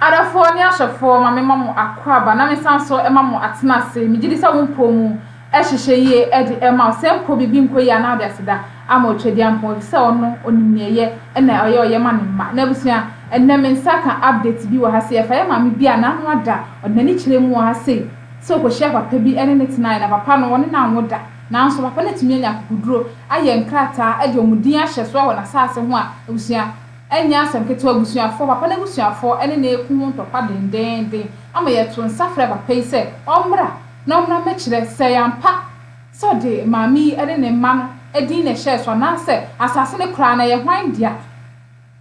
Adɔfoɔ ne ahwɛfoɔ, ma mema mo akwaaba na mesan nso ma mo atenase. Megye di sɛ wo mpɔ mu hyehyɛ yie de rema wo. Sɛ mpo biribi nkɔ yie a, na wode aseda ama Otwadiampɔn, ɛfiri sɛ ɔno, ɔnim nea ɛyɛ na ɔyɛ ɔyɛ ma ne mma. N'abusua, ɛnnɛ me nsa ka update bi wɔ ha sei. Ɛfa yɛn maame bi a n'ano ada, ɔde n'ani kyerɛɛ mu wɔ ha sei sɛ ɔkɔhyiaa papa bi ne no tenaeɛ, na papa no, wɔne no anwo da. Nanso papa no atumi anya akokoduro, ayɛ nkrataa de wɔn din ahyɛ so wɔ n'asaase ho a, abusua, Ɛnyɛ asɛm ketewa, abusuafoɔ, papa no abusuafoɔ ne no reko ho ntɔkwa dendeenden ama yɛtoo nsa frɛɛ papa yi sɛ ɔmmra na ɔmmra mmɛkyerɛ sɛ ɛyɛ ampa sɛ ɔde maame yi ne ne mma no din na ɛhyɛɛ so anaasɛ asase no koraa no ɛyɛ hwan dea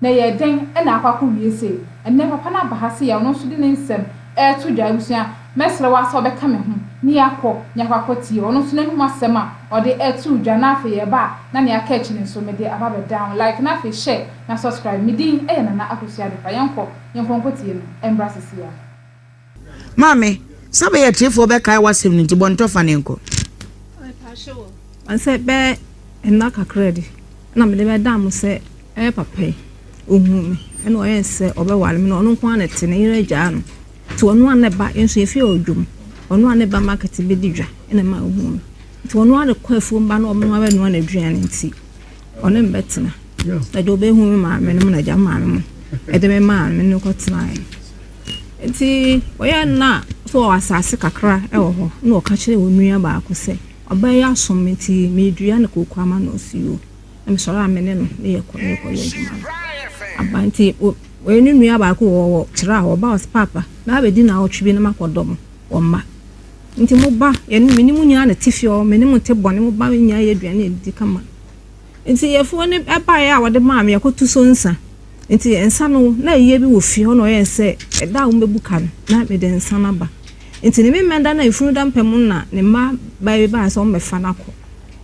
na ɛyɛɛ dɛn na akɔ akɔwie sei. Ɛnnɛ papa no aba ha sɛ yɛne no nso de ne nsɛm reto dwa. Abusua, Mɛsrɛ wo ara sɛ wobɛka me ho na yɛakɔ na yɛakɔ akɔtie ɔno nso n'anom asɛm a ɔde ɛtoo dwa na afei yɛreba a na nea aka akyi no nso mede aba abɛdan wo. Like na afei share na subscribe. Me din yɛ Nana Akosua Adepa. Yɛnkɔ, yɛnkɔ nkɔtie no ɛmbra seesei ara. Maame, sɛ bɛyɛ atiefoɔ bɛkae w'asɛm no nti bɔ ntɔ fa na yɛnkɔ. Mepakyɛ wo, sɛ bɛyɛ nna kakra bi na mede bɛdaa mo sɛ ɛyɛ papa yi, ɔhuu me ɛna ɔyɛɛ sɛ ɔbɛware me na ɔno nko ara na ɛte, ne yere agyaa no. Nti ɔno ara ne ba nso efi ɔdwom, ɔno ara ne ba market bedi dwa na ɛma ohuu no. Nti ɔno ara ne kɔ afuom ba na ɔno ara noa n'aduane nti ɔne me bɛtena. Ɛde obehu me maame no mu na agya maame mu ɛde me maa me ne kɔ tenae. Nti ɔyɛ nna so wɔ asase kakra ɛwɔ hɔ na ɔka kyerɛ wɔn nua baako sɛ ɔbaa yi asom me nti medua ne kooko ama no ɔsi o. Na mesɔre a me ne no ne yɛ kɔ ne kɔ yɛ adwuma no. Aba nti Wɔyɛ no nua baako wɔ wɔ Tra wɔ Baos Paapa na abɛdi naawɔtwe bi na makɔ dɔ mo wɔ mma nti mo ba yɛ ne mene mo nyinaa na te fie ɔ mene mo te bɔne mo ba nyinaa yɛ aduane adidi kama nti yɛfuo ne ɛbaeɛ a wɔde maa me yɛkɔ tu so nsa nti nsa no na ayie bi wɔ fie hɔ na ɔyɛ sɛ ɛda a wɔbɛbu ka no na mede nsa no aba nti ne memɛ da na efunu da mpɛ mu na ne mma baa bi baa sɛ wɔbɛfa no akɔ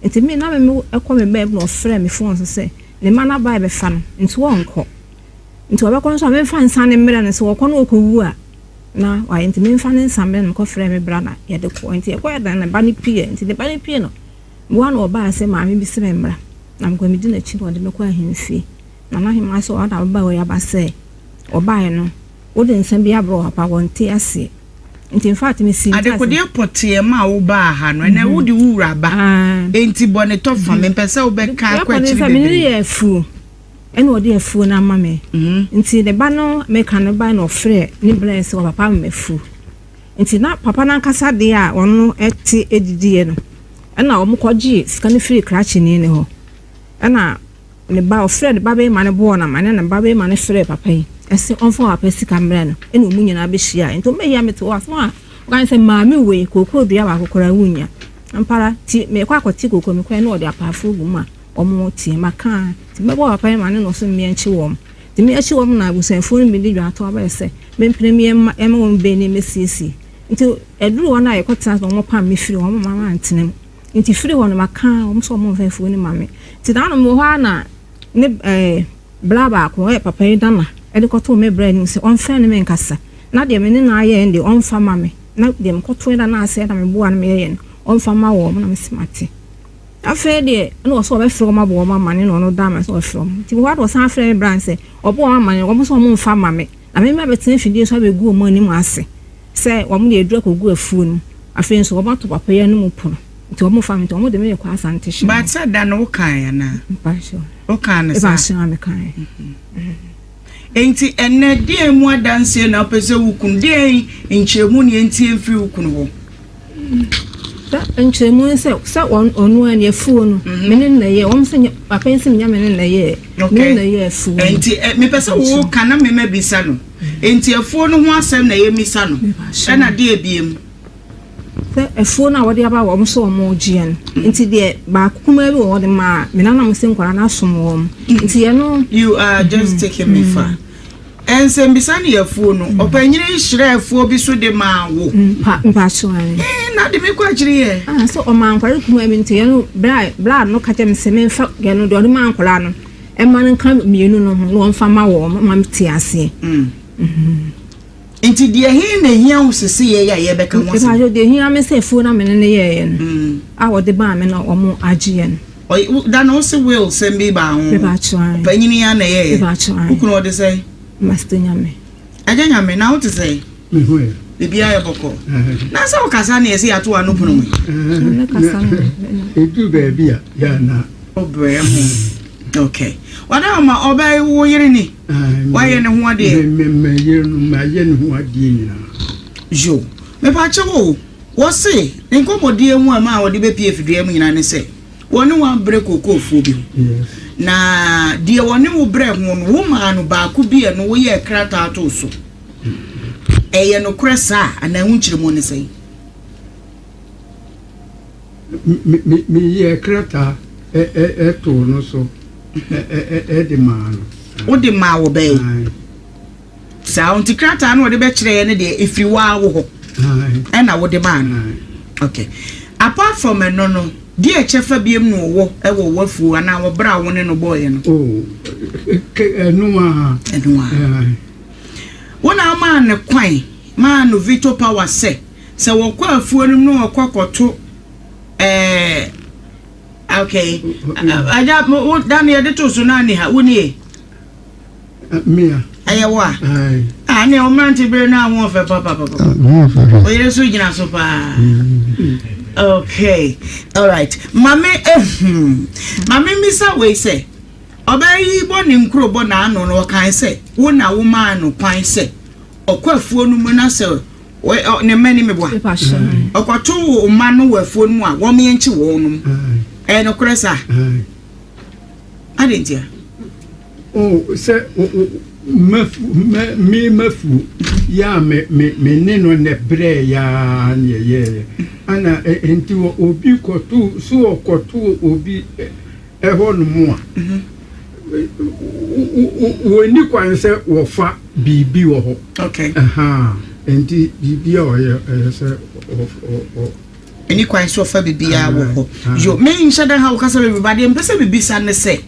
nti me na me ɛkɔ me bɛɛm na ɔfrɛ me fon so sɛ ne mma no abaa bɛfa no nti wɔnkɔ Nti wɔbɛkɔ no so a memfa nsa no mmerɛ no, sɛ wɔkɔ no wɔkɔ wu a na wayɛ nti memfa ne nsa mmerɛ no, mekɔ frɛ me bra na yɛde kɔɔ. Nti yɛkɔɛ na ne ba no pieɛ, nti ne ba no pie no boa na ɔbaa sɛ maame bi se me mmra na mekɔ medi n'akyi na ɔde me kɔ ahemfie. Na n'ahemmaa sɛ ɔda ababaa wei aba sɛ ɔbaeɛ no wode nsa bi abrɛ ɔpapa wɔnte aseɛ. Nti infact me sii ntaase. Adekodeɛ pɔteɛ ma wo baa ha no ɛnɛ wode wo wura aba nti bɔne tɔ fam mempɛ sɛ wobɛka akɔ akyiri bebree. Yɛkɔ no sɛ mene no yɛ afuo. Ɛna ɔde afuo no ama me. Nti ne ba no meka no ba na ɔfrɛ ne brɛ sɛ papa mma afuo. Nti na papa no ankasa deɛ a ɔno ɛte ɛdidiɛ no ɛna wɔn kɔgye sika no firi krakyeni no hɔ. Ɛna ne ba ɔfrɛ ne ba bɛrima no bɔɔ no ama ne na ba bɛrima no frɛ papa yi ɛsɛ ɔmfa papa sika mmrɛ no ɛna wɔn nyinaa bɛhyia. Nti wɔn bɛyɛ a mete waso a ɔka sɛ maame wei kookoo dua baako koraa wonnya. Ampara nti mekɔ akɔte kookoo mekɔɛ na ɔde apaafoɔ gu mu a wɔn teɛm aka a, nti mɛbɔ papa yi ma ne nnɔɔso mmea nkye wɔn. Nti meakye wɔn na abusuafoɔ no bɛdi dwa ato aba yɛ sɛ mempene me yam mma yɛmma wɔn baanu yi mmɛsiesie. Nti ɛduru hɔ no a yɛkɔtena ase na wɔpam me firi hɔ, wɔmma mantena mu. Nti firi hɔ no maka wɔn sɛ wɔmfa afuo no mma me. Nti daa no mewɔ hɔ ara na ne ɛɛ bra baako ɔyɛ papa yi dana de kɔtoo me bra anim sɛ ɔmfrɛ ne menkasa na deɛ me ne no ayɛ no deɛ ɔmfa mma me na deɛ mekɔtoeɛ da no ase na meboa no meyɛeɛ no ɔmfa mma wɔn na mese mate. Afei deɛ na ɔsɛ ɔbɛfrɛ wɔn abɔ wɔn amane na ɔno Dama sɛ ɔfrɛ wɔn. Nti wɔba na ɔsan frɛ me Brian sɛ ɔbɔ wɔn amane wɔn sɛ wɔn mfa mma me na me mmra bɛtena afidie so abɛgu wɔn anim ase sɛ wɔn deɛ aduru akɔgu afuo no mu. Afei nso wɔn ato papa yi anum pono nti wɔn mfa me nti wɔn de me rekɔ Asante hyɛn mu. But sɛ da no wokaeɛ anaa? Mpakyɛw. Wokaa no saa? Mpakyɛw a mekaeɛ. Enti ɛnnɛ, deɛn mu adanseɛ na wopɛ sɛ wokunu? Deɛn nkyerɛmu ne yɛntie mfiri wo kunu hɔ? Sa nkyerɛmu ne sɛ, sɛ wɔn ɔno a ne afuo no, mhm. me ne no na ɛyɛ. Wɔn sɛ papa yi sɛ menya me ne no na ɛyɛ. Me ne no na ɛyɛ afuo no. Enti eh, mepɛ sɛ woka na mema bisa no. Enti afuo no ho asɛm na yɛmmisa no. Ɛna deɛ ebiem. Sɛ afuo no a wɔde aba wɔn sɛ wɔn regye yɛn mm. nti deɛ baako kumaa bi wɔ hɔ de ma a me nanam sɛ nkwadaa no asom wɔn mm. nti yɛn no. you are just mm. taking me far. nsɛmbisa ne afuo no ɔpanyin nhyerɛ afuo bi so de maa wo. mpa mpa so ɛn. ɛn na de mi kɔ akyiri yɛ. ah so ɔmo ankwari kumaa bi nti yɛn no bra bra no kakyɛ mi sɛ mi nfa yɛn no deɛ ɔde maa nkwadaa no ɛma no nka mmienu no ho na wɔn fa ma wɔn ma mi te aseɛ. Mm. Mm-hmm. Enti deɛ he na ehia wo seseyɛi a yɛrebɛka ho asɛm? Mpakyɛ, deɛ ehia me sɛ afuo no a me ne no yɛeɛ no, a wɔde baa me na wɔagyeɛ no. Ɔy wo da no wo se will sɛm bi baa ho? Mpakyɛ, ae. Ɔpanyini yi ara na ɛyɛeɛ? Mpakyɛ, ae. Wo kunu ɔde sɛn? Master Nyame. Agya Nyame, na wote sɛn? Me ho ɛ? Biribiara yɛ bɔkɔɔ. Na sɛ wokasa ne yɛ sɛ yɛato w'ano pono mu yi? Ɛɛ, na ɛduru baabi a, yɛ a na. Wobrɛ ho. Ok ɔne ɔma ɔbɛ wo yere ni wayɛ ne ho adeɛ. Mɛ yere no mɛ ayɛ ne ho adeɛ nyinaa. Yo mepa kyɛ wo wɔse ne nkɔmɔdie mu ɛma ɔde bɛ pie fidua mu nyinaa ne sɛ wɔne wo abrɛ kookoofoɔ bi ho na deɛ wɔne wo brɛ ho no wo maa no baako bi ɛno wo yɛɛ krataa too so ɛyɛ nokorɛ saa anaa wo nkyerɛmu ne sɛn. Meyɛɛ krataa too no so de maa no. Wode maa wɔ bɛn? Saa nti krataa no wɔde bɛkyerɛɛ no deɛ ɛfiri waa wo hɔ ɛna wode maa no. Okay. Apart from ɛno no, deɛ kyɛfa biam na ɔwɔ ɛwɔ wafuo anaa wɔbrɛ wo ne no bɔɔyɛ no? Ɛno a. Ɛno a. Wona ɔmaa no kwan maa no veto power sɛ. Sɛ wɔkɔ afuo no mu na wɔkɔ kɔto ɛɛ okay agya wo da no yɛde to so na ani ha wo nie. Mia. Ɛyɛ wo a. Ah ne o mmerante bere na ho ɔfɛ papa papa. O yere so gyina so paa. Okay. All right. Mame ehum. Mame misa wei sɛ ɔbaa yi bɔ ne nkuro bɔ n'ano no ɔkan sɛ wo na wo maa no kwan sɛ ɔkɔ afuo no mu na sɛ Ne mma ni meboa. Ɔkɔto wo mma no wɔ afuo no mu a wɔn yɛnkye wɔn nom. Ɛyɛ nokorɛ saa. Adɛn ntia? Sɛ me mafuo yɛ a me ne no nɛ berɛ yɛ a ne yɛyɛɛyɛ. Ana nti obi kɔto so ɔkɔto obi hɔ nom a, wɔnni kwan sɛ wɔfa biribi wɔ hɔ. Nti biribi a ɔyɛ ɛyɛ sɛ ɛni kwan sɛ ɔfa biribi a wɔ hɔ. Yo, me nhyɛ da ha wo kasa baabi ba deɛ mpɛ sɛ bibisa ne sɛ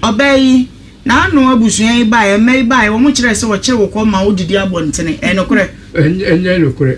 ɔbaa yi n'ano abusua yi baa ɛmɛ yi baa wɔn kyerɛ sɛ wɔkyere wo kɔ ma wodidi abɔntene ɛnokorɛ. Ɛnyɛ nokorɛ.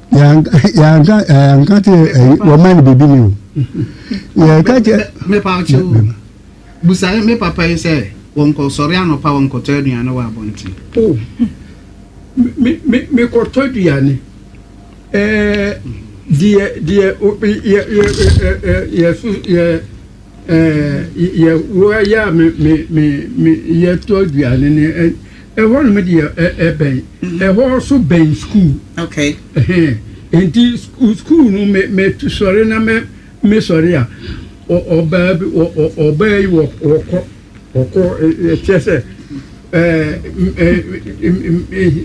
yɛanka yɛanka te ɛyi wɔma no biribi ni o yɛka kyɛ. mepa ɔkyɛ o busa me papa yi sɛ wɔnkɔ sɔre anɔpa wɔnkɔtɔ aduane wɔ abɔnten. o oh. mekɔtɔ aduane ɛɛ deɛ deɛ yɛ yɛ yɛ yɛ so yɛ ɛɛ yɛ wɔyɛ a me me me yɛtɔ aduane ne. Ɛhɔ nom deɛ ɛbɛn. Ɛhɔ so bɛn sukuu. Okay. Ɛhɛn. Nti sukuu no me me sɔre na me me sɔre a ɔbaa bi ɔbaa yi wɔkɔ wɔkɔ ɛkyɛ sɛ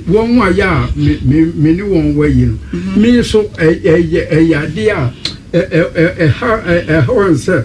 wɔn a yɛ a me ne wɔn wɔ yi no mm-hmm. me nso ɛyɛ ɛyɛ adeɛ a ɛha ɛha wɔn sɛ.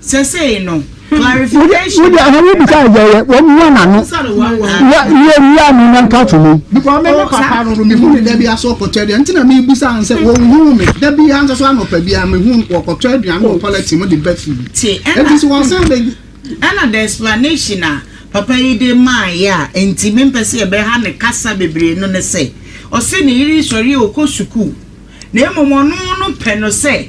Sesei no, clarification. Wode aha wo bisa yɛ yɛ wɔn mu anano. Ya yɛ wia no na nka to mu. Because me me papa no me hu ne da bi aso ɔkɔtɔ aduane nti na me bisa n sɛ wɔn hu me da bi anso so anɔpa bi a me hu wɔkɔtɔ aduane wɔ toilet mu de ba fie. Te ɛna. Eti so wɔn san bɛ. Ɛna the explanation a papa yi de maa yɛ a nti me mpɛ sɛ yɛbɛha ne kasa bebree no ne sɛ ɔse ne yere sɔre a ɔkɔ sukuu na mmom ɔno no pɛ no sɛ.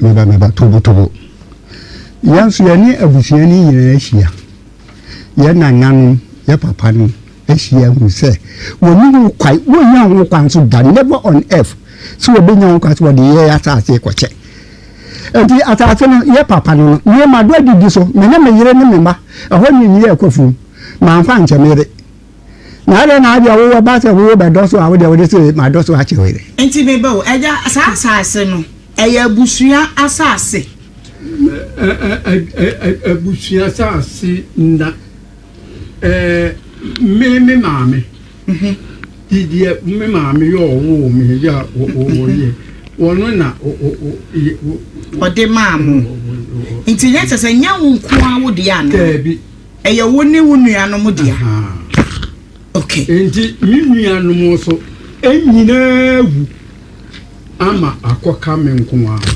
Me ba, me ba, tobotobo. Yɛn nso yɛne abusua no nyinaa ahyia. Yɛn nananom, yɛn papanom ahyia ahu sɛ wɔnni ho kwan, wɔnnya ho kwan nso da, never on earth, sɛ wɔbɛnya ho kwan sɛ wɔde yɛn asase rekɔkyɛ. Enti asase no, yɛn papa no no, mema do adidi so, me ne me yere ne me mma. Ɛhɔ ne nni yɛn akwafuom. Mamfa ankyɛ me yere, na adɛn na adeɛ wowɔ ba sɛ wowo bɛdɔ so a wodeɛ wode se madɔ so akyɛ wei dɛ. Nti me ba o, agya saa asase no ɛyɛ abusua asase. Abusua asase nna, me me maame didiɛ me maame yɛ ɔwoo me yɛ ɔyɛ wɔno na ɔde maa mo nti nyɛ kyɛ sɛ nyɛ wo nko a wodeɛ anaa. Ɛyɛ wo ne wo nuanom dea. Ok. Enti me nuanom nso nyinaa wu ama akɔka me nko ara.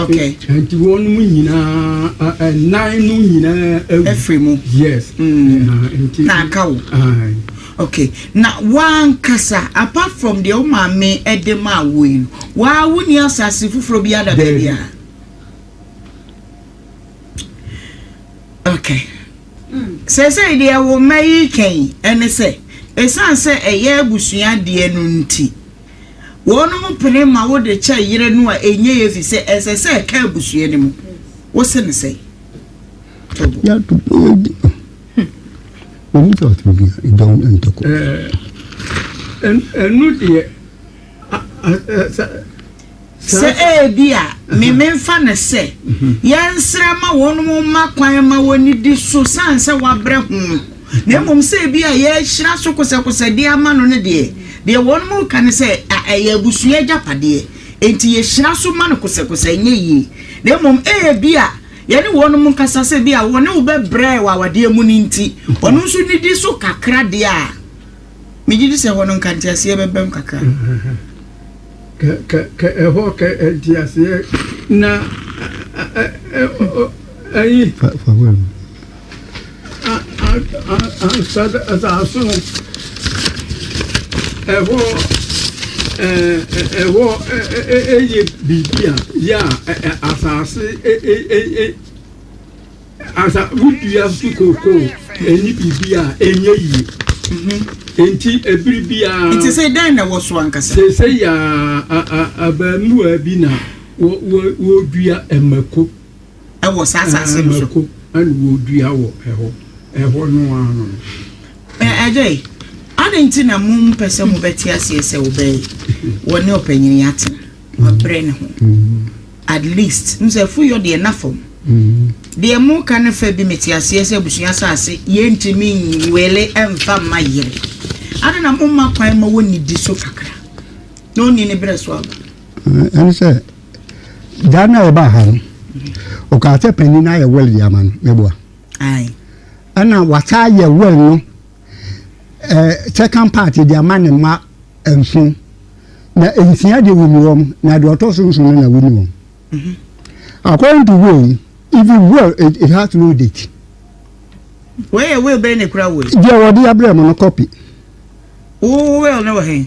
Ok. Enti wɔn nyinaa nnan no nyinaa awu. Afiri mu. Yes. Nti. Na aka wo. Ok. Na wankasa apart from deɛ wo maame de maa wo yi no, waa wonni asase foforɔ biara da baabiara? Ok. Seesei deɛ wo mma yi reka yi ne sɛ, ɛsiane sɛ ɛyɛ abusua deɛ no nti, wɔnom pene ma wo de kyɛ yere no a ɛnyɛ yie firi sɛ ɛsɛ sɛ ɛka abusua no mu. Wo se no sɛn? Tobo. Ya tobo yɛ di. Wɔn mu tɔ ɔtɔ bi a, ɛdɔn ntɔkɔ. Ɛɛ, ɛnu deɛ. Sɛ ebia me memfa no sɛ yɛnsrɛ ma wɔn mma kwan ma wɔnnidi so sane sɛ wɔabrɛ ho no, na mmom sɛ ebia yɛrehyira so kosɛkosɛ de ama no no deɛ, deɛ wɔnom reka ne sɛ ɛyɛ abusua agyapadeɛ, enti yɛhyira so ma no kosɛkosɛ ɛnyɛ yie. Na mmom ebia yɛne wɔnom nkasa sɛ ebia wɔne wo bɛbrɛ wɔ awadeɛ mu no nti, ɔno nso nidi so kakra deɛ a. Megye di sɛ ɛhɔ no nka nteaseɛ bɛbam kakra. Kɛ ɛhɔ kɛ nteaseɛ na ayi asase no ɛhɔ ɛhɔ ɛyɛ biribi a yɛ a asase ɛyɛ. Ansa wodua nso kookoo ɛnni biribi a ɛnyɛ yie. Mhm. Nti ɛbiri biara. Nti sɛ dɛn na ɛwɔ so ankasa? Sɛ sɛ yɛ abaamuwa bi na wɔdua mmako. Ɛwɔ saa asase no so. Mmako ɛna wɔdua wɔ ɛhɔ ɛhɔ no ano no. Ɛdɛ yi adɛn nti na mo mpɛ sɛ mobɛte aseɛ sɛ wobɛyɛ wɔne ɔpanyini atena wabrɛ ne ho. Mhm. At least nsɛ afu yɔ deɛ na fam. Deɛ mo ka no fɛ bi me te aseɛ sɛ abusua asase yɛ ntumi nwele mfa mma yere. Ada na mo ma kwan ma wɔ nidi so kakra na ɔni ne berɛ so aba. Ɛne sɛ da na ɔba ha no ɔkaa sɛ panin no ayɛ wɛl de ama no mɛboa. Ae. Ɛna wataa yɛ wɛl no. eh, second part de ama ne mma nson na nsia de wuni wɔn na deɛ ɔtɔ so nson no na wuni wɔn mhm. according to will even will it, it has no date. wei yɛ will bɛyɛ ne kura wei. deɛ wɔde abirɛ mu no copy. wo will ne wɔ hɛn.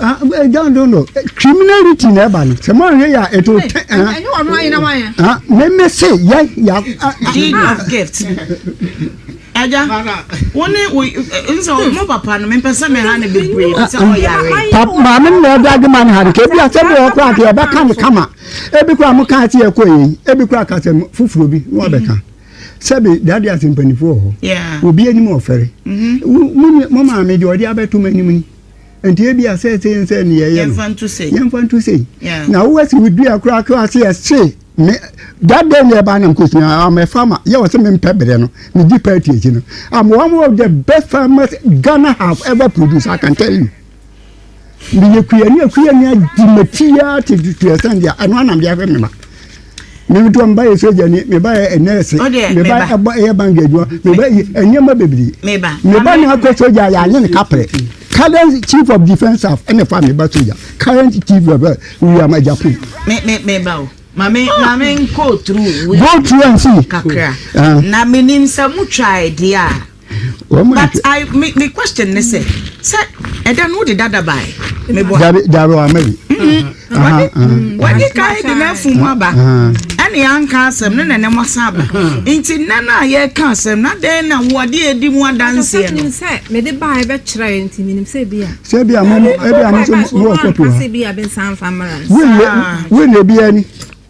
Ah, eh, John don't know. Eh, criminality na ɛba no. Sɛ maa hwɛ yɛ a, it will turn. Ɛnyɛ wɔn ho ayɛ na wɔn ayɛ. Ah, mɛmɛ se yɛ yɛ. Deed of gift. Ɛja, wɔn ne wo nsɛ ɔmo papa no mepɛ sɛ mɛ ha ne bebree sɛ ɔyare. Papa maame na ɛdi adi ma ne ha de ka ebi asɛm bi wɔ kora ati ɛbɛ ka ne kama ebi kora mo kan ati ɛkɔ yɛ ebi kora kasɛm foforɔ bi na wabɛ ka sɛbi dade ase mpanimfoɔ wɔ hɔ obi anim ɔfɛre mo maame deɛ ɔde abɛto mo anim ni. nti ebi a sɛ sɛ nsɛ ne yɛyɛ no yɛmfa nto sei yɛmfa nto sei na wowɔ si wo dua koraa koraa sɛ yɛse me that day na ɛbaa nam kosua I'm a farmer yɛ wɔ sɛ mempɛ berɛ no megye party akyi no I'm one of the best farmers Ghana have ever produced I can tell you meyɛ kuyani akuyani agye matiaa te tuasɛn deɛ ɛno anam deɛ ahwɛ me ma Me nso meba yɛ sogyani, meba yɛ nɛɛse, meba ɛbɔ ɛyɛ bank adwuma, meba yi nneɛma bebree. Meba na akɔ sogya yɛ anyɛ ne kaprɛ. Current chief of defence staff ɛna fa meba sogya. Current chief of uh, William Ajapu. Me me meba o. Maame ah. maame nkɔ through. Go through and see. Kakra. Ah. Na menim sɛ motwa ɛdeɛ a. but i me me question ne sɛ sɛ ɛda no wode dada bae meboa dabi dabi wa mɛbi wadi kan de n'afu mu aba ɛne anka asɛm ne nɛnɛ mu asan aba nti nnɛ no a yɛka asɛm na dɛn na wɔde adi mu adanseɛ no sɛ mede bae bɛkyerɛ yɛ nti menim sɛ bi a sɛ bi a mo ɛbi a mo nso mo wɔ kɔpi hɔ wille wille bi ani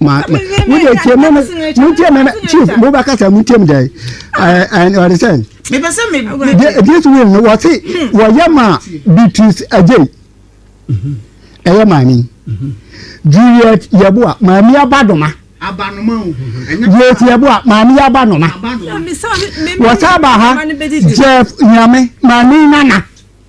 ma ma mo de tie mo mo tie mo chief mo ba kasa mo tie mo dɛ ɛɛ ɛn ɔde sɛ. mepɛ sɛ me. this will no wɔte wɔyɛ ma beatrice agye ɛyɛ maame juliet yɛboa maame abadoma juliet yɛboa maame abanoma wɔsa aba ha jeff nyame maame nana.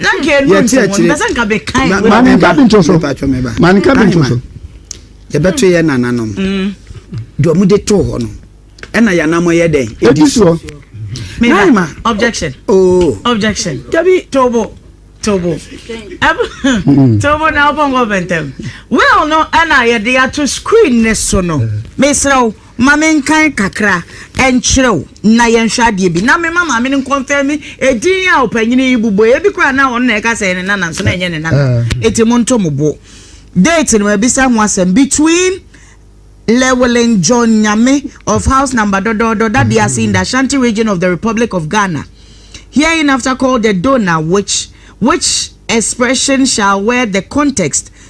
na nka ɛnu nsɛm wɔn bɛsɛ nka bɛ kan wɔ ma ne nka bi nto so ma ne nka bi nto so yɛbɛto yɛ nananom mm. deɛ ɔmo de too hɔ no ɛna yɛnamɔ yɛ dɛn ɛdi soɔ naima objection oh objection dabi tobo tobo mm. tobo na ɔpɔ nkɔ bɛntɛm well no ɛna yɛde ato screen ne so no mesrɛ wo Ma menkan kakra nkyerɛ wo na yɛnhwɛ adeɛ bi. Na mema maame no nkɔnfɛme edin a ɔpanyin yi bobɔ. Ebi koraa na ɔno na ɛka sɛ ne nana nso na ɛnyɛ ne nana. Eti mo nto mo bo. Date no mabisa ho asɛm between Llewellyn John Nyame of house number dɔdɔɔdɔ Dade ase in the Ashanti region of the Republic of Ghana. Herein after called the donor which which expression shall wear the context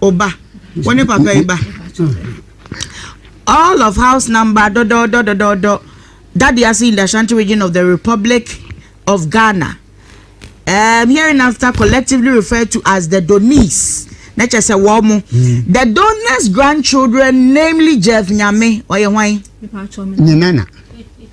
O ba, wo ne papa yi ba. All of house number dɔdɔɔdɔ dɔdɔɔdɔ Daddy Ase in the Ashanti region of the Republic of Ghana. Um, hereinafter collectively referred to as the Donis. Na kyerɛ sɛ wɔn mo. Mm. The Donis grandchildren namely Jeff Nyame ɔyɛ hwan? Ne nana.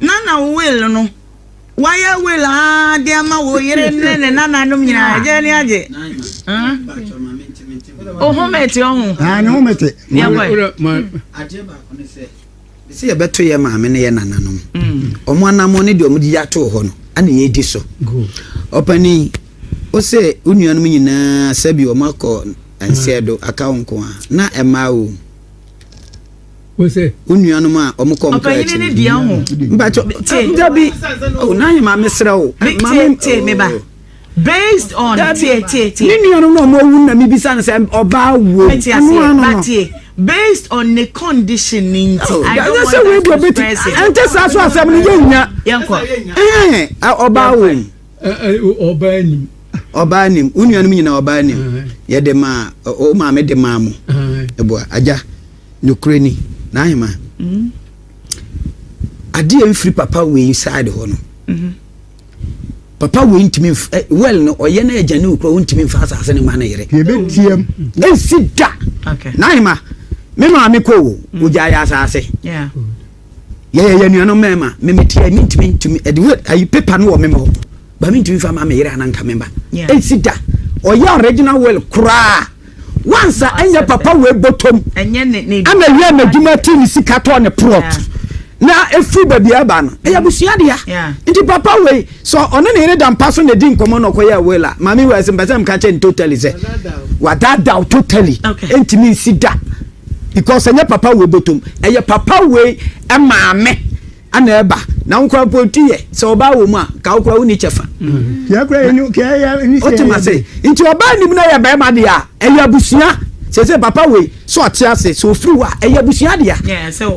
Nana will no wayɛ will aa de ama wo yere ne ne nananom nyinaa ah. agye ne agye ohomete ɔho ne homete sɛ yɛbɛto yɛ maame no yɛ nananom mm. ɔmo anammɔ ne deɛ ɔmo de atoo hɔ no ana yɛdi so ɔpani wo sɛ wo nuanom nyinaa sɛ bi ɔmo akɔ nseɛ do aka wo nko a na ɛmaa wo wo nuanom a wɔn kɔ nkra akyi no deɛ ho mpakyɛ dabi n'ahye ma mesrɛ wo tie me ba based on tie tie tie ne nuanom na wɔn awu na mebisa no sɛ ɔbaa wuo ɛno ano no based on the condition ni nti i don't want that to express it ɛnkyɛ saa so asɛm no yɛ nya yɛnkɔ ɔbaa wɔ mu ɔbaa nim ɔbaa nim wo nuanom nyinaa ɔbaa nim yɛde maa o maame de maa mo ɛboa agya Nokorɛ ni, n'ahemman, adeɛ mfiri papa wei side hɔ no, papa wei ntumi nf eh, well no ɔyɛ na agya ne okura ɔntumi nfa asase no ma ne yere. Yɛbɛtiam. Ɛnsi da. Okay. N'ahema, me maame kɔ o, ogyaeɛ asase. Yeah. yɛyɛ yɛn nuanom mmarima memeteɛ mentumi ntumi ɛde wɛ ayi pepa no wɔ mema hɔ ba mentumi fa ma meyere ananka mema ɛnsi da ɔyɛ original will koraa wansa ɛnyɛ papa wei bɔtɔm ɛna wia n'adwuma ti ne sika tɔɔ ne plot na ɛfiri baabi aba no ɛyɛ abusua dea nti papa wei sɛ ɔne ne yere da mpa so na ɛdi nkɔmmɔ na ɔkɔyɛ will a maame wei sɛ mpɛ sɛ mka kyɛ ne totally sɛ wadadaw totally ɛntumi nsi da because ɛnyɛ papa wei bɔtɔm ɛyɛ papa wei maame ɛna ɛba na nkora mpo ti yɛ sɛ ɔbaa wɔ mu a ka wokora wonni kyɛfa wotem ase nti ɔbaa nim no yɛ bɛrima deɛ a ɛyɛ abusua sɛ sɛ papa wei sɛ ɔte ase sɛ ɔfiri hɔ a ɛyɛ abusua deɛ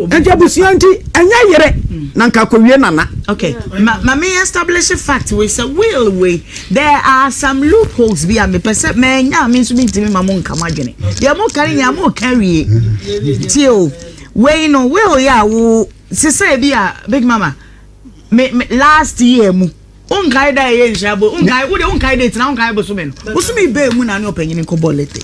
ɛnti abusua nti ɛnyɛ yere mm. na nka kɔwie nana okay. ma, ma me establish fact wei sɛ will wei There are some loop holes bi a mepɛ sɛ manya a me nso mentumi mma mo nka mo adwene. Deɛ moka no nyinaa moka wie. Tie o, wei no will yɛ a wo sesɛ bi a Big Mama me, me last year mu wonkae da ɛyɛ nhyira bo wonkae wode wonkae date na wonkae bosome no bosome bɛɛ mu na ne ɔpanyini nkɔbɔ lete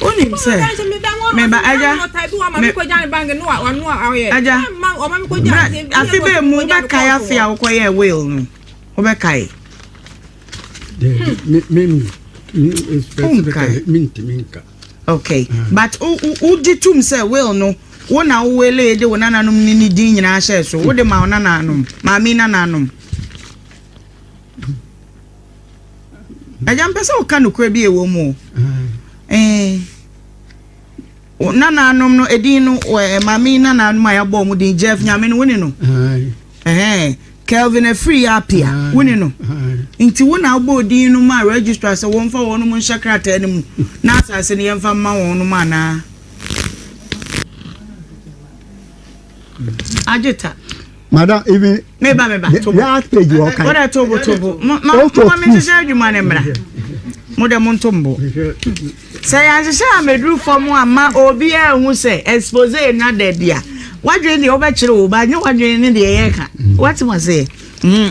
wonim sɛ meba agya agya afe bɛɛ mu wobɛkae afe a wokɔyɛɛ will no wobɛkae okay ah. but wogye tom sɛ will no wo na wowele de wo nananom ne ne din nyinaa hyɛɛ so wode ma wo nananom maame nananom Agya mpɛ sɛ woka nokorɛ bi ɛwɔ mu eh, nanaanom no ɛdin no maame nanaanom a yɛabɔ mu din Jeff Nyame no wo ne no eh, Kelvin afiri yɛ apia wo ne no nti wo na wobɔ din no ma registrar sɛ wɔmfa wɔn nom nhyɛ krataa no mu na asase no yɛmfa mma wɔn nom anaa Ajita. Madam, even me ba me ba to last page wo kan. Ora to bo to bo. Ma ma me se adwuma ne mra. Mo de mo nto mbo. Sɛ ya se sɛ ameduru fam a ma obi a hu sɛ expose na da bia. Wadwen de obɛkyere wo ba nye wadwen ne de yɛ ka. What must say? Mm,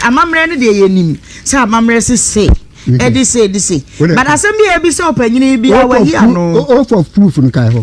amammerɛ ne deɛ yɛnim sɛ amammerɛ se se ɛde se ɛde se but asɛm bi a ɛbi sɛ ɔpanyini bi a wayi ano. ɔfa proof no kae hɔ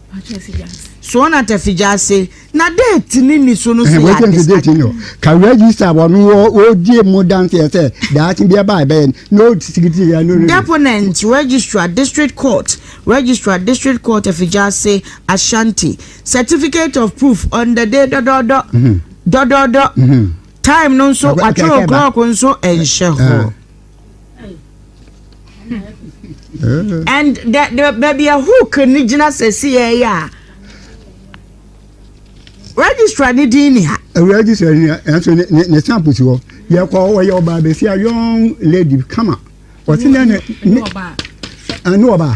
soɔ na ta fi gya ase na deeti ne ni so no so yɛ ade sa ka register wɔn wɔdie mu danseɛ sɛ daakye bi ɛba ɛbɛyɛ na ɔsikiti yɛ no deponent registrar district court registrar district court afi gya ase ashanti certificate of proof on the day dɔdɔdɔ mhm. dɔdɔdɔ mhm. time no nso watwerɛ clock nso ɛnhyɛ hɔ and the the baabi a hook ne gyina sɛsi yɛ yɛ a registrar ne din ni ha. registrar ni ɛnso ne ne ne stamp si hɔ yɛ kɔ ɔyɛ ɔbaa bɛsi a young lady kama ɔsi ne ne ne ɔbaa ɛne ɔbaa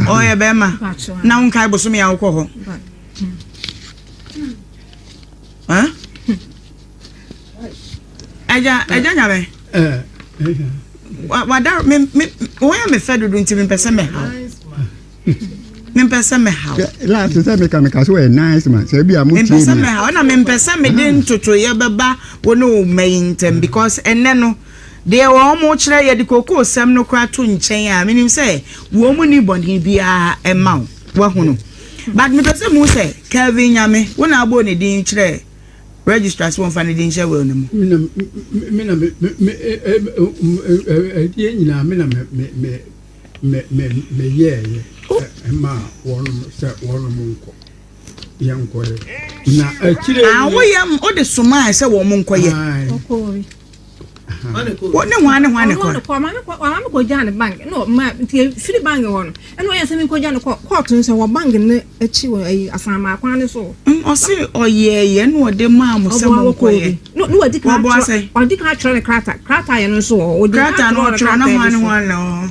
ɔyɛ bɛrima na ho nkae bosomi a wokɔ hɔ. Huh? ɛgya ɛgya nyame wada me me wɔn yɛ me fɛ dodo nti mepɛ sɛ mɛ ha mepɛ sɛ mɛ ha laati sɛ meka meka so yɛ nice man sɛ ebi a mo tie mi mepɛ sɛ mɛ ha ɔna mepɛ sɛ mɛ de ntotoyɛ bɛba wɔn ne wɔn mɛ yi ntɛm because ɛnɛ no deɛ wɔn mo kyerɛ yɛ de koko sɛm no kora to nkyɛn a menim sɛ wɔn mo ni bɔnne biara ɛma wɔn wɔn ho no but mepɛ sɛ mu sɛ Kelvin Nyame wɔn na abɔ ne din kyerɛ. Registrar sɛ wɔmfa ne din nhyɛ will no mu. Me na ɛdeɛ nyinaa me na meyɛɛyɛ ma wɔnom sɛ wɔnom nkɔ yɛnkɔyɛ na akyire woyɛ wode somaa sɛ wɔn nkɔyɛ wo ne hwan ne hwan ne kɔ. ɔma me kɔ ɔma me kɔ gya ne bank na ɔma nti efiri bank hɔ no ɛna ɔyɛ sɛ mi kɔ gya ne kɔ court no sɛ wɔ bank ne akyi wɔ ayi asanmaa kwan ne so. ɔsi ɔyɛ yɛ na ɔde maa mo sɛ mo nkɔ yɛ wɔbɔ asɛ. ɔdi kan atwerɛ ne krataa krataa yɛ no nso wɔ hɔ. krataa no ɔtwerɛ na hwan ne hwan na wɔ hɔ.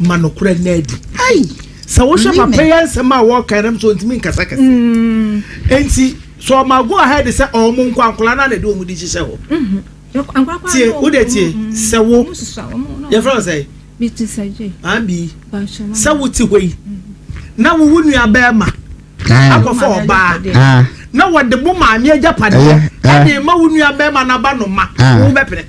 ma nokorɛ nna adi ai sɛ wohwɛ papa yi nsɛm a wɔka nam sɛ ɔntumi nkasa kɛse mm. nti sɛ ɔma go ahead sɛ ɔmo nkɔ ankola no ana de ɔmo de hyehyɛ hɔ mm-hmm. tie wode tie mm, mm, sɛ wo yɛfrɛ wo sɛ ambi sɛ wote hɔ yi mm-hmm. na wowo nua bɛɛma akɔfa ɔbaa na wɔde mo maame agyapadeɛ ɛde ma wo nua bɛrima no aba no ma wo bɛpene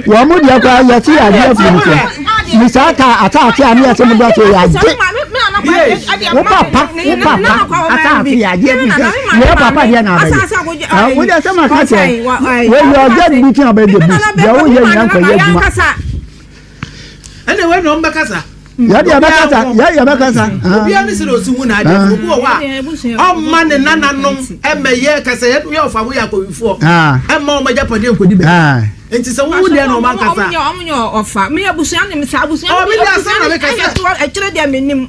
wɔn mu deɛ kora yɛte yɛ adeɛ firi mu so ne saa ta ataate a ne yɛte mo dɔte yɛ agye wo papa wo papa ataate yɛ adeɛ firi sɛ yɛ papa deɛ na abɛyɛ wode sɛ ma ka kyɛ wɔyɛ ɔgya de bi tena bɛyɛ bi deɛ woyɛ nyina nkɔyɛ adwuma ɛna wei na wɔn bɛkasa yɛde yɛbɛkasa yɛde yɛbɛkasa obi ani sɛ na osi hu n'ade ah. obi wɔ hɔ a ɔma ne nananom ɛmɛ yɛ kasa yɛ yɛ ɔfa ho yɛ akɔwifoɔ ah. ɛma ɔma gya pɔdeɛ nkɔdi bɛ ah. nti sɛ wowu deɛ na ɔma nkasa ɔmo yɛ ɔfa mi abusua ne mi sa abusua ne mi abusua ne mi ɛyɛ so ɛkyerɛ deɛ mi nim.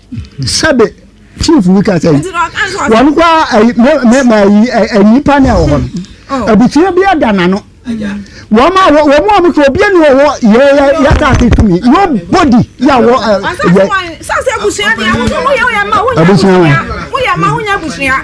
sɛbe chief bi ka sɛ wɔn kɔ mɛma yi nnipa ne ɛwɔ hɔ no oh. abusua bi ada n'ano wɔn a wɔn a wɔn sɛ obi ni wɔwɔ yɛ yɛ yɛ asaase tumi nobody yɛ wɔ ɛ yɛ abusua wɔn.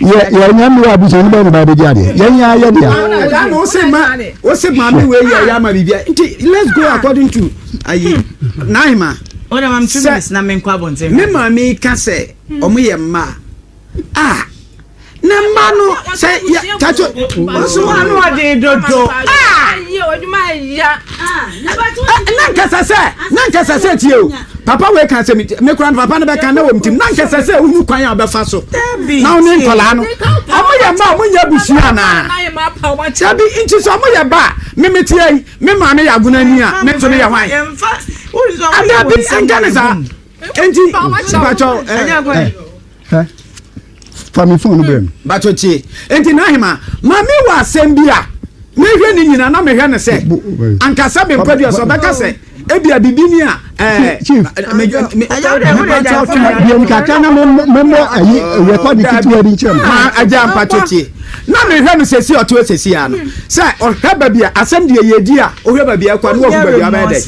yɛ yɛ nya mi wa bisa ne ba ne ba bɛ di adeɛ yɛ nya yɛ deɛ. ɛda na o se ma o se ma mi wei yɛ ya ma bi bia nti let's go according to ayi nine ma. o na ma mi two minutes na mi nkɔ abɔnten. mi maa mi ka sɛ ɔmo yɛ mmaa a ne mma no sɛ yɛ tato. o so ano ɔden dodo. aa. na nkɛsɛ sɛ na nkɛsɛ sɛ tie o papa wei ka asɛm me kora no papa no bɛka na wɔm tim na nkɛsɛ sɛ wohu kwan a wɔbɛfa so na wo ne nkɔlaa no ɔmo yɛ mma ɔmo nyɛ abusua anaa dabi nti sɛ ɔmo yɛ ba memeteɛ yi me maame yɛ agona ni a me nso meyɛ hwan adabi ɛnka ne saa nti mpakyɛw Hɛ, fa me fon no brɛ me. Bato tie. Enti Nahima, ma me wɔ asɛm bi a mehwɛ ne nyina na mehwɛ no sɛ anka sɛ me nkwadua sɛ ɔbɛka sɛ ebia bibi ni a ɛɛ. Chief, deɛ nkaka na memmɔ ayi rekɔdi ketewa bi nkyerɛ me. Agya mpato tie. Na me hwɛ no sɛsi ɔte hɔ sɛsi a no sɛ ɔhwɛ baabi a asɛm deɛ yɛdi a ɔhwɛ baabi a ɛkɔ a ne wahu baabi a ɔbɛyɛ dɛ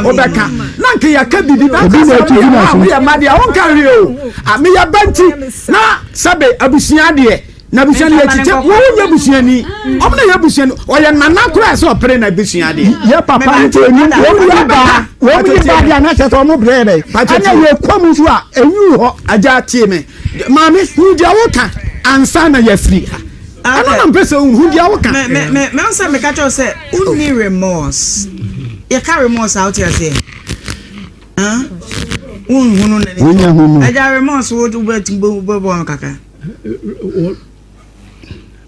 ɔbɛka na nka yɛka biribi na nka sɛ woyɛ ma woyɛ mma deɛ wonka hwee o a meyɛ ba nti na sɛbe abusua deɛ na abusua no yɛkyi sɛ wo nyɛ busuani ɔmo na yɛ busuani ɔyɛ nana koraa sɛ ɔpere na abusua deɛ yɛ papa nti ɛnu wɔn yɛ ba wɔn yɛ ba deɛ anakyɛ sɛ ɔmo brɛ yɛ dɛ ɛnyɛ yɛ kɔm nso a ɛnwu hɔ agya tie me Maame, hu deɛ woka ansa na yɛafiri ha. Ɛno na mpɛ sɛ wohu. Hu deɛ woka. Mɛhu sɛ meka kyɛw sɛ wonni remorse. Yɛka remorse a, wote aseɛ? Wonhunu n'ani. Wonya hunu. Agya remorse, wobɛbɔ no kakra.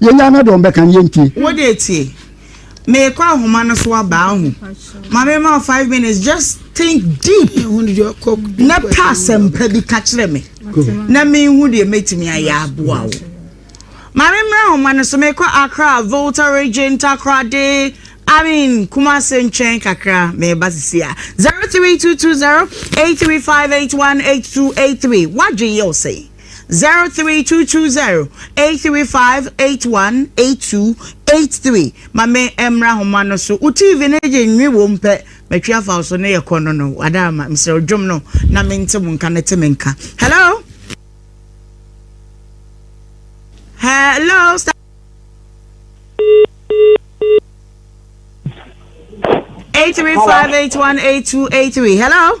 Yɛnyaa na deɛ ɔmbɛka no yɛntie. Wo deɛ tie. Meekɔ ahoma no so aba ahu. Ma me ma wo five minutes just think deep na pɛ asɛmpa bi ka kyerɛ me na menhu deɛ mɛtumi ayɛ aboa wo. Ma me mmra ahoma no so meekɔ Accra, Volta region, Takoradi, I mean Kumasi nkyɛn kakra meba sisi a. 03220 83581 8283 Wadwen yɛ wo sɛn? Zero three two two zero eight three five eight one eight two eight three ma me mmra homa no so wo tv no gye nwi wo mpɛ matwi afa wo so ne yɛkɔ no no wada ama mesrɛ dwom no na mente mo nka no te me nka hello hello eight three five eight one eight two eight three hello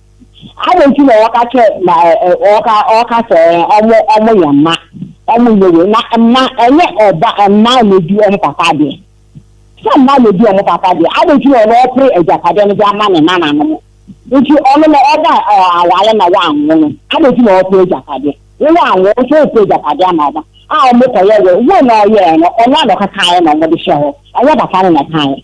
Adɛn nti na wɔka kyɛ na ɛ ɛ wɔka wɔka sɛ ɛ ɔmo ɔmo yɛ mma ɔmo nyɛ wei na mma ɛnyɛ ɔba mma na edi wɔn papa adeɛ sɛ mma na edi wɔn papa adeɛ adɛn nti na ɔno ɔpere agyapadeɛ no de ama ne nananom nti ɔno na ɔba ɛ aware na wanwo no adɛn nti na ɔpere agyapadeɛ wo wanwo nso ɔpere agyapadeɛ ama ɔba a ɔmo kɔyɛ wei wei na ɔyɛɛ no ɔno a na ɔkekaeɛ na ɔmo de hyɛ hɔ ɛnyɛ papa no na ɛkaeɛ.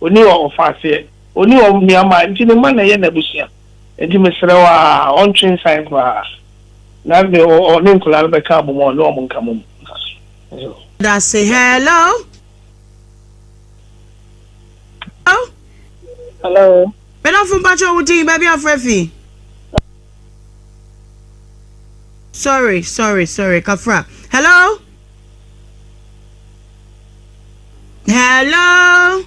Onni ɔfaaseɛ, onni onuammaa, enti ne mma na ɛyɛ n'abusua. Enti mesrɛ wo ara, ɔntwe nsan koraa, na ne ɔne nkwadaa no bɛka abom a ɔne wɔn nka mom. Nso. Dase hello. Hello. Hello. Medɔfo mpakyɛ wo din baabi afrɛ fi. Sorry sorry sorry kafra hello. Hello!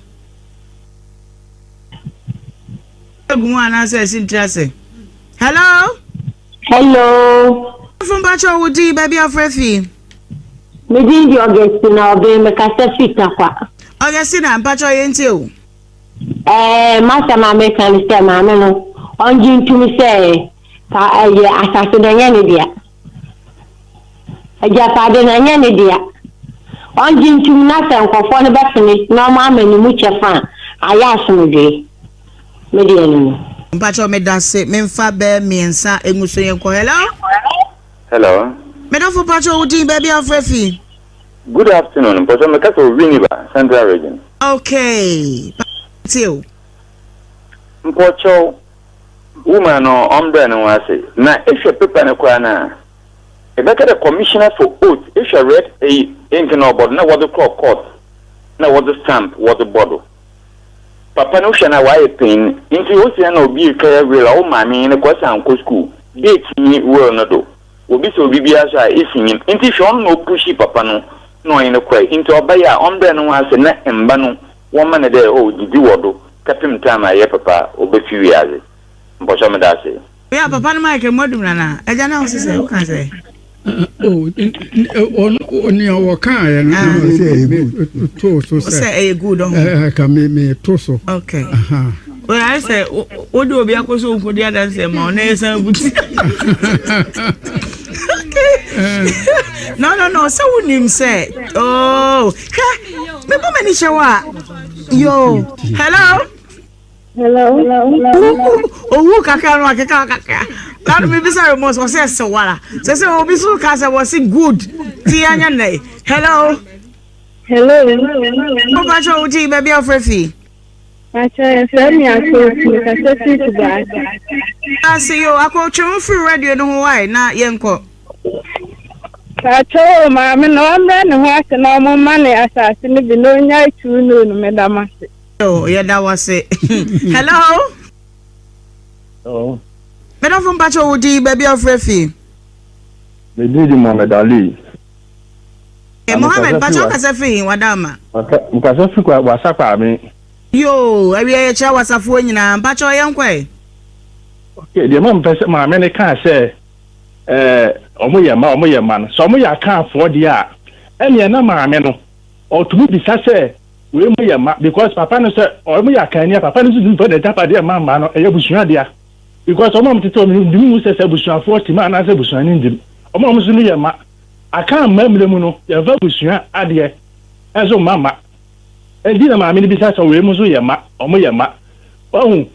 Egu mu anaasɛ ɛsi ntiri ase? Hello! Hello! Fún bàtchọ wo di baabi afra fi. Mi di di Augustina ọbẹn mi kasa fi takwa. Augustina mpàtchọ yẹn ti o. Ẹẹ masa maame kan sẹ maame no ọngye ntumi sẹ ka ẹyẹ asase dẹ nyẹ ne dea. Agyapade no, ɛnyɛ ne dea. Ɔngye ntom na sɛ nkorɔfoɔ no bɛpene na ɔmo ama ne mu kyɛfa a, ayɛ asomdwee. Me deɛ ɛno no. Mpakyɛw medase menfa bɛ miensa enguso yɛnkɔ hello. Hello. Medɔfo pakyɛw wo din baabi a wofrɛ afii. Good afternoon mpakyɛw me kasa wɔ Winneba central region. Okay pa yɛtie o. Mpakyɛw Womaa no ɔmbrɛɛ no ho ase, na ehwɛ paper no koraa no a, ebɛka dɛ Commissioner for Oath ehwɛ red eyi ink na ɔbɔ do na wɔdze kɔr court na wɔdze stamp wɔdze bɔ do. Papa no hwɛ no a ɔayɛ panyin ntsi ose ana obi rekɛyɛ will a wo maame nye no kɔsan nkɔ skuul, date nnyi will no do, wobisa obi biara so a isi nyim ntsi hwɛ ɔno na opushii papa no na ɔnye no kɔe ntsi ɔbae a ɔmbrɛɛ no ho ase na mba no Wɔma no dɛ, oh, gyedzi wɔ do kɛpem taem a yɛ papa obefi wiadze. Mpɔkyɛw meda ase. Oyɛ papa no Michael Mwadum Nana agya na wose sɛ woka sɛ. Oh, nea wɔkaaɛ no na ɔsɛ ɛyɛ good. Too so sɛ. Sɛ ɛyɛ good ɔho. Ɛka me me to so. Okay. Aha. Well, ayɛ sɛ wode obi akɔ so nkɔdi adanseɛ ma ɔna yɛ san buti no no no sɛ wonim sɛ oh Hwɛ, me bɔ m'ani hyɛ wo a. Yo, hello. Hello. Owu kakra no akeka kakra. Lanu mi bisa remorse wɔ sɛ ɛsɛ wara. Sɛ sɛ obi so ka sɛ wɔ se good ti yɛ nyɛ nɛ. Hello. Hello. Mo ba kyɛ wo ti baabi afra fi. Mpakyɛw yɛfrɛ me Akotwi mekasa firi Kumasi. Daase yoo akotwi mo firi radio no ho wai na yɛ nkɔ. Mpakyɛw oo maame no ɔmrɛ ne ho ase na ɔmo mma ne asaase no bi na ɔnyae two noo no meda mo ase. Yoo yɛda wo ase hello. Hello. Medɔfo mpakyɛw wo din baabi a ɔfrɛ fii. Me din de Mohammed Ali. Eh, Mohammed, pacha ɔkasa fi he wada ama? Ɔkasa fi kwa wasa kwaame. Yoo, awia yɛkyerɛ wasafoɔ nyinaa, mpacha ɔyɛ nkɔ ɛ. Okay, deɛ ma mpɛ sɛ maame ne kaa sɛ eh, ɔmo yɛ mma, ɔmo yɛ mma no, sɛ ɔmo yɛ akaafoɔ deɛ a, ɛneɛ na maame no, ɔtumi bisa sɛ wei mo yɛ mma, because papa no sɛ ɔmo yɛ akaani a, papa no nso tumi fa n'agyapadeɛ ma mma no, ɛyɛ abusua dea. Because wɔn a wɔtete hɔ no nim mu sɛ sɛ abusuafoɔ te mu anaasɛ abusua no nnim. Wɔn a wɔn so no yɛ mma. Aka mma mmere mu no, yɛmfa abusua adeɛ nso mma mma. Enti na maame no bisa sɛ wei mu nso yɛ mma, wɔn yɛ mma. Wahu?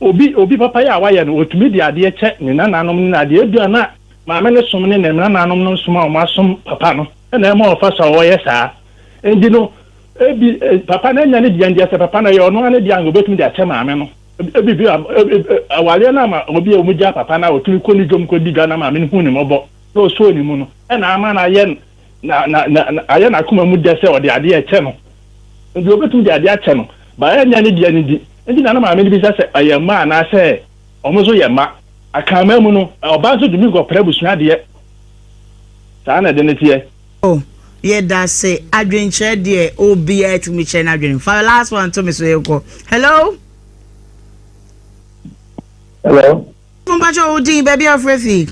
Obi, obi papayɛ a wayɛ no, wɔtumi de adeɛ kyɛ ne nananom ne n'adeɛ. Ebi a na maame no som ne nananom no som a wɔn asom papa no na ɛma ɔfa so a ɔyɛ saa. Enti no, ebi, papa no anya ne deɛ ndeɛ, sɛ papa no ɛyɛ ɔno ara ne deɛ a, anka ɔbɛtumi de akyɛ maame no. Ebia awareɛ no ama obi a wɔgyaa papa no a ɔtumi kɔ ne dwam kɔdi dwa no maame no huu ne mmɔbɔ na ɔsɔɔ ne mu no na ama no ayɛ ayɛ n'akoma mu dɛ sɛ ɔde adeɛ ɛkyɛ no. Nti ɔbɛtumi de adeɛ akyɛ no ba ɛnyɛ ne deɛ no di. Nti na na maame no bisa sɛ ɔyɛ mma anaasɛ wɔn nso yɛ mma. Akanman mu no, ɔbaa nso tumi nkɔpra abusua adeɛ. Saa na ɛde no teɛ. Oh yɛdase adwenkyerɛ deɛ obia atumi kyerɛ no adwene fa last one to me so yɛkɔ hello hello mpakyɛ wo din baabi a frɛ fi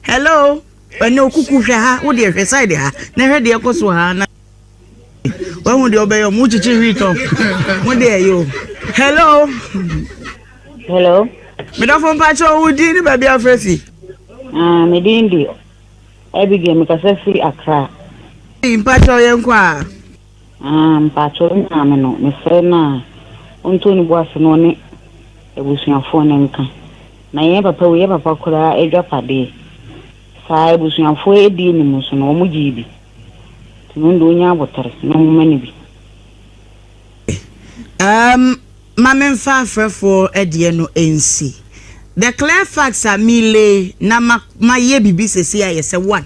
hello ɛnɛ okuku hwɛ ha wo deɛ hwɛ side ha na hwɛ deɛ ɛkɔ so ha na wahu deɛ ɔbɛyɛ ɔmo kyekye wheat ɔ mo deɛ ɛyɛ o hello. hello. medɔfo mpakyɛ wo din ne baabi afrɛ fi. Ah, me din de Abigail mekasa firi Accra. mpakyɛ yɛ nkɔ a. Ah, mpakyɛ wo maame no mesrɛ no a ɔntɔ ne bu ase na ɔne abusuafoɔ no nka na yɛn papa wei yɛ papa koraa adwapadeɛ saa abusuafoɔ adi anim so no wɔn gyee bi. Tumi do nya abotar na homa no bi. Umm ma me mfa afrɛfoɔ ɛdeɛ no nsi. The clear facts a me lay na ma ma yɛ bibi sesei ayɛ sɛ one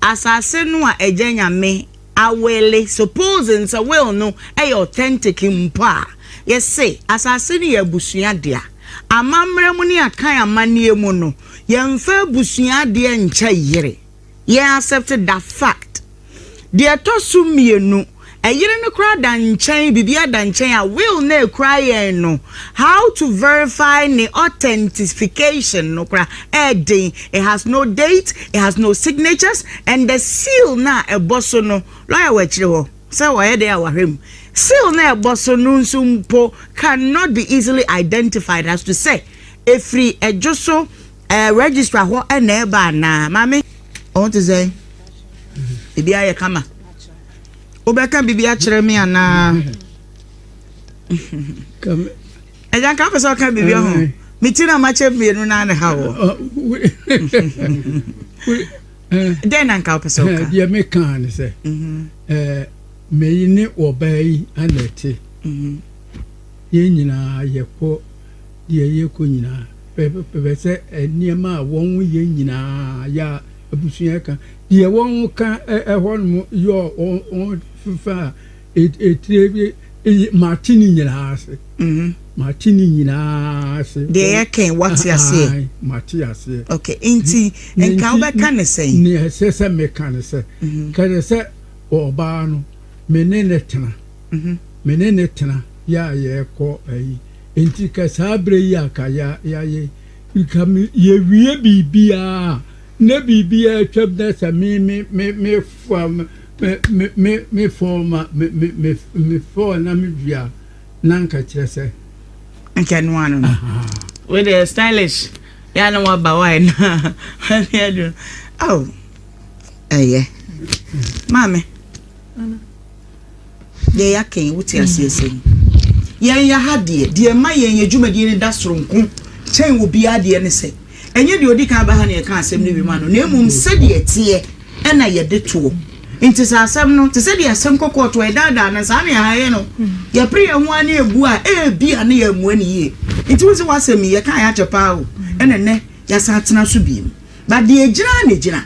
asase no a agya nyame a wele suppose n sɛ will no yɛ authentic mpo a yɛ se asase no yɛ abusua dea amammerɛ mu ne akan amanneɛ mu no yɛ mfa abusua adeɛ nkyɛ yere yɛ accept da fact deɛ ɛtɔ so mmienu ɛyere no koraa da nkyɛn biribiara da nkyɛn a will na ɛkura yɛn no how to verify ne authentification no koraa ɛɛden it has no date it has no signatures and the seal na ɛbɔ so no lawyer wɔ akyire hɔ sɛ wɔyɛ dɛn a wɔahwɛ mu seal na ɛbɔ so no nso mpo cannot be easily identified as to sɛ ɛfiri ɛdwo so Ɛɛ registrar hɔ na ɛba anaa? Maame, ɔho te sɛn? Ebi ayɛ kama. Wobɛka biribi akyerɛ me anaa? Ɛgya nka wopɛ sɛ ɔka biribi ho. Me ti na makyɛ mmienu no ana ha wɔ. Dɛn na nka wopɛ sɛ woka? Deɛ mekaa ne sɛ, mhm. meyi ne ɔbaa yi ana ɛte. Mhm. Yɛn nyinaa yɛkɔ deɛ yɛrekɔ nyinaa. Bɛpɛ sɛ nneɛma a wɔyɛ nyinaa yɛ a abusua ka. Deɛ wɔka hɔnom yɛ wɔn fefa a etire bi mate ne nyinaa ase. Mhm. Mate ne nyinaa ase. Deɛ yɛka wate aseɛ. Mate aseɛ. Okay, nti nka wobɛka ne sɛn? Nea ɛsɛ sɛ meka ne sɛ, mhm. kɛdɛ sɛ ɔbaa no me ne ne tena. Mhm. Me ne no tena yɛ a yɛkɔ ayi. Nti ka saa berɛ yi a ka ya yɛayɛ nka me yɛwie biribiara a na biribiara atwam na sɛ me me me me fa me me me me fɔɔ ma me me me me fɔɔ na me wie a na nka kyerɛ sɛ. Nka ɛno ano no. Ahaa. Wei deɛ stylish yɛ a na waba wae no a wani adwo. Ao ɛyɛ maame. Ana. yɛya kɛn wote aseɛ sɛn yɛn ya ha deɛ deɛ ɛma yɛn yɛ dwumadie no da soro nko kyɛn wɔ biara deɛ ne sɛ ɛnyɛ deɛ ɔdi kan ba ha na yɛka asɛm no wima no na mmom sɛdeɛ ɛteɛ ɛna yɛde toɔ nti sɛ asɛm no te sɛ deɛ asɛm kɔkɔɔ toɔ ɛdaadaa no saa ne ɛha yɛ no yɛpere yɛn ho a ne ɛbu a ɛbi a ne yɛ mmoa ne yie nti wo sɛ w'asɛm yi yɛka yɛ akyɛ paa o ɛna nnɛ yɛasan atena so biem ba deɛ gyina ne gyina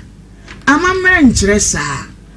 amammerɛ nkyerɛ saa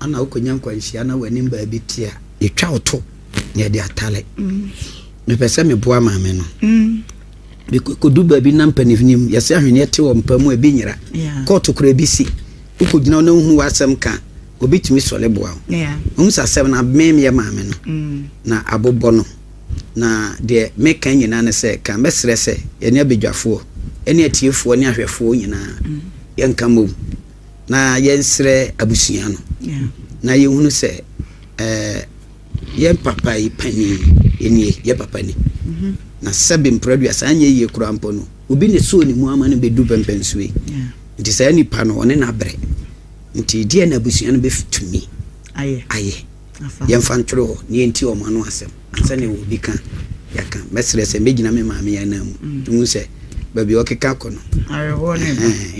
Ana wokɔnya nkwanhyia na w'anim baabi te a, yɛtwa wo to na yɛde atare. Mepɛ sɛ meboa maame no. Mekɔdu baabi na mpanimfoɔ yɛsɛ ahweneɛ te wɔ mpa mu ebi nyera. Kɔɔto kora ebi si. Wokɔgyina na wohu w'asɛm ka obi tumi sɔre boa wo. Wɔn sɛ asɛm no abɛn yɛ maame no na abobɔ no. Na deɛ meka nyinaa ne sɛ ka mɛsrɛ sɛ yɛne abadwafoɔ ne atiefoɔ ne ahwɛfoɔ nyinaa yɛnka mmom. na yɛnsrɛ abusua no na yɛhunu sɛ eh, yɛn papa yi panin nie yɛ papa ni mhm. na sɛbe mprɛdua saa nyɛ yie koraa mpɔ no obi ne soo ne mu ama no bɛdu pɛmpɛn so yi nti saa nipa no ɔne n'abrɛ nti deɛ na abusua no bɛtumi ayɛ yɛmfa ntwerɛ hɔ ne yɛnti ɔmo ano asɛm ansa ne wɔ bi ka yɛaka mɛserɛ sɛ mɛgyina me maame yɛ anaa mu mm. hu sɛ baabi ɔkeka kɔ no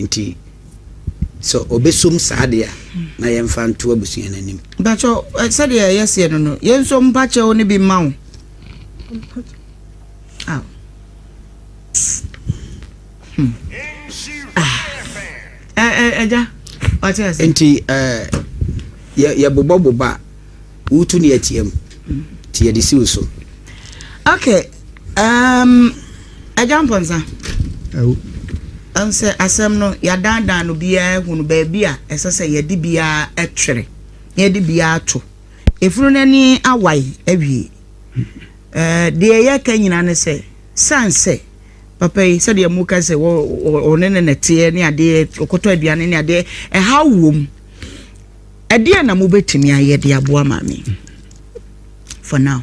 nti Sɛ ɔbɛsom saa deɛ a, na yɛmfa nto abusua no anim. Mpakyɛw, ɛ, sɛdeɛ ɛyɛ seɛ no no, yɛn nso mpa kyɛw no bi mma wo. Aw. Hmm. Ah. Ɛ, ɛ, ɛgya, wate ase. Nti, ɛ, yɛ, yɛbobɔbobɔ a, wotu ne atia mu, nti yɛde si wo so. Okay. Um, Agya Mponsa. Awo. Ɛn sɛ asɛm no yɛadaadaa no biara ahu no baabi a ɛsɛ sɛ yɛde biara ɛtwere na yɛde biara to. Efunu no ani awae awie. Eh, deɛ yɛka nyinaa ne sɛ, san sɛ papa yi sɛdeɛ mu ka sɛ ɔne ne nɛteɛ ne adeɛ ɔkɔtɔ aduane ne adeɛ ɛha wom. Ɛdeɛ na mobɛtumi ayɛ de aboa maame for now.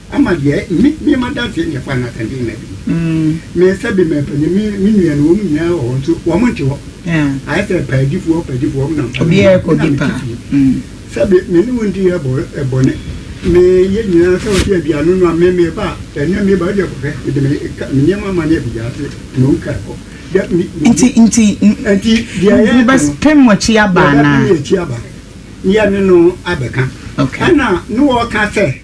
Ama deɛ me me ma danseɛ ne ɛfa na sɛnde na bi me nsa bi mɛ panyin me me nua no wɔn nyinaa wɔ hɔ nso wɔn nte hɔ ayɛ sɛ paadifoɔ paadifoɔ wɔn na mpa me na me ti fie sɛbi me ne wɔn di yɛ bɔ ɛbɔ ne me yɛ nyinaa sɛ wɔde aduane no a me me ba ɛnɛ me ba deɛ kɔfɛ me de me ka me nneɛma ma ne ɛbi gya ase na wɔn ka kɔ dɛ me nti nti nti deɛ ɛyɛ ɛbɛ pɛm wɔn akyi aba na ɛbɛ pɛm wɔn akyi aba ne yɛ ne no abɛka ɛna ne wɔka sɛ.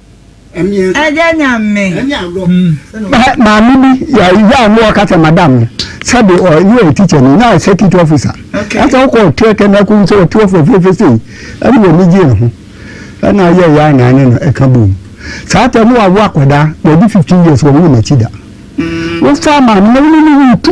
Maame bi yɛ yɛ ano ɔka sɛ madam no sɛbi ɔ ne yɛ teacher no na circuit officer ɛsɛ ɔkɔ ɔteɛ kɛ n'ako nso ɔte ɔfɔ fiefe sei ɛne yɛ ne gye ho ɛna yɛ yɛ anan ne no ɛka boom saa tɛ no wawo akwadaa wɔde fifteen years wɔn wɔn akyi da wofa maame na wɔn ne ne tu.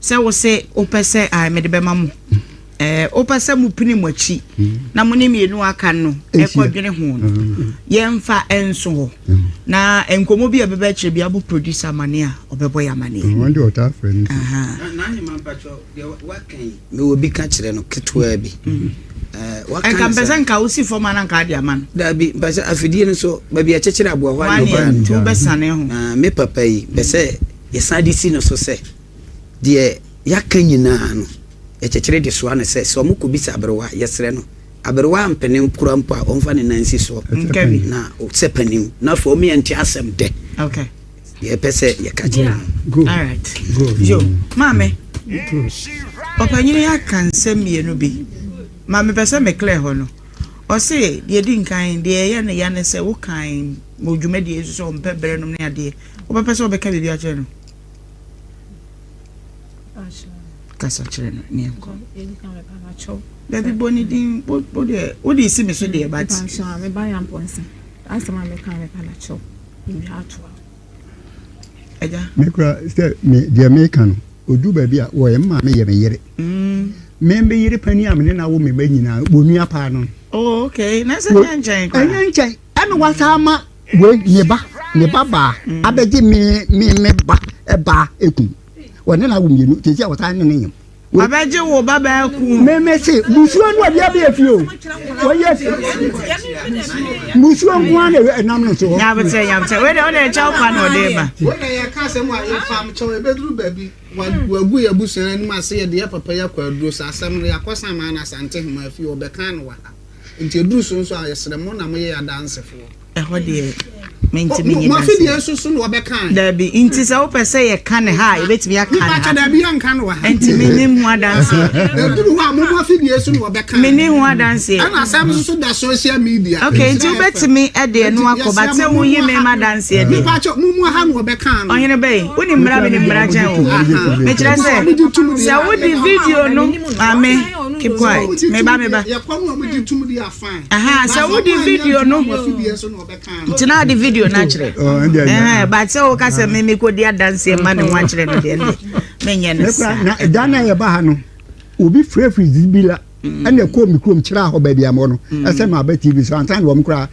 Sɛ wo se wo pɛ sɛ ae mede bɛma mo. Eh, wo pɛ sɛ mo pini mo akyi na mo ne mmienu aka no ɛkɔ dwene ho no. Yɛmfa ɛnso hɔ. Na nkɔmɔ bi a ɛbɛbɛ akyire bi abo producer amane a ɔbɛbɔ yɛ amane. Wɔn de ɔtaa frɛ no. Aha. Na ne ma mpakyɛ deɛ waka yi. Me wɔ bi ka kyerɛ no ketewa bi. Ɛnka mpɛ sɛ nka wosi fam ana nka ade ama no. Daabi, mpɛ sɛ afidie no so baabi a ɛkyekyere aboa hɔ a na ɔbaa no. Nti wobɛsane ho. Me papa yi, mpɛ sɛ yɛsan de si no so sɛ. Deɛ yɛaka nyinaa no, yɛkyekyere de soa no sɛ, sɛ wɔkɔbisa aberewa a, yɛsrɛ no, aberewa a mpene kura mpo a, ɔmfa ne nan nsi soɔ na sɛ panin na afei ɔmeɛ nte asɛm dɛ deɛ ɛpɛ sɛ yɛka kyerɛ no. Maame, ɔpanyini aka nsɛm mmienu bi ma mepɛ sɛ meklɛ hɔ no. Ɔse deɛ di nkan, deɛ ɛyɛ no ya ne sɛ wokan wɔ dwumadie nso sɛ ɔmpɛ berɛ nom ne adeɛ, wobɛpɛ sɛ wobɛka biribi akyerɛ no? kasa kyerɛ no ne nkɔ dabi bɔ ne din wodeɛ wode si me so deɛ bat mekura sɛ deɛ meka no ɔdu baabi a wɔyɛ mma me yɛ me yere mm. membe yere pani a mene na wo meba nyinaa wɔnua paa no oh, ɛnyɛ nkyɛn Ɛna wasan ama wei ne ba ne ba baa abɛgye me me me ba ɛbaa ekum wɔne na wo mmienu tete a wɔsan ne ne nyam. Abɛgye wo ba baa ekum. Me me se musuo no ɔde abɛyɛ fie o wɔyɛ musuo nko ara na ɛnam no so. Nyabetɛ nyabetɛ wei de ɔde ɛkyɛw pa na ɔde ba. Wɔn na yɛ kaa sɛm a yɛ fam kyɛw ebeduru baabi wagu yɛ busua anim ase yɛ de yɛ papa yɛ akɔ aduro sɛ asɛm no yɛ akɔsan maa na asante hema fie ɔbɛkan no wɔ ha. Enti ɛduru so nso a, yɛsrɛ mo na moyɛ yɛn adansefoɔ. Ɛhɔ deɛ, mentumi nye Mo afe deɛ nso so na wɔbɛka ɛ. Dabi, nti sɛ wopɛ sɛ yɛka no ha a, yɛbɛtumi aka no ha. Mepakyɛ, dabi, yɛnka no wɔ ha. Enti mennim ho adanseɛ. Ɛduru hɔ a, mo mo afe deɛ so na wɔbɛka ɛ. Menni ho adanseɛ. Ɛna asɛm nso so da social media. Okay, nti wobɛtumi de ɛno akɔ, but sɛ woyi me ma adanseɛ deɛ. Mepakyɛ, mo mo ha na wɔbɛka no. Ɔhene bɛn? Wonim mmara, menim mmara kyɛn wo. Mekyerɛ sɛ, sɛ wode video no. Maame, keep quiet. Meba, meba. Aha, sɛ wodi video no, ntina ade video no akyerɛ. Ɛhɛn, but sɛ woka sɛ me me kodi adanse ma ne ho akyerɛ no deɛ ne, menyɛ ne saa. Na ɛda no a yɛba ha no, obi frɛfiri zibi la, ɛna ɛkɔɔ me kurom kyerɛ hɔ baabi a mɔ no, ɛsɛ ma aba TV so, ansa na wɔn koraa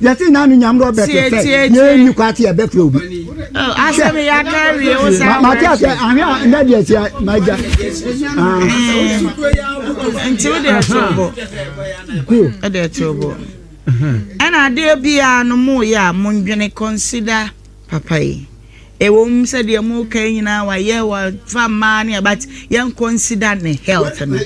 yɛte na no nyam dɔ bɛte sɛ yɛnni kɔ ate ɛbɛfrɛ obi mate asɛ ahwɛ a nda deɛ tia magya nti wode ɛtobo ɛde ɛtobo ɛna adeɛ biara no moyɛ a mondwene consider papa yi ɛwɔ mu sɛ deɛ mu ka nyinaa wayɛ wafa mmaa ne abat yɛn consider ne health no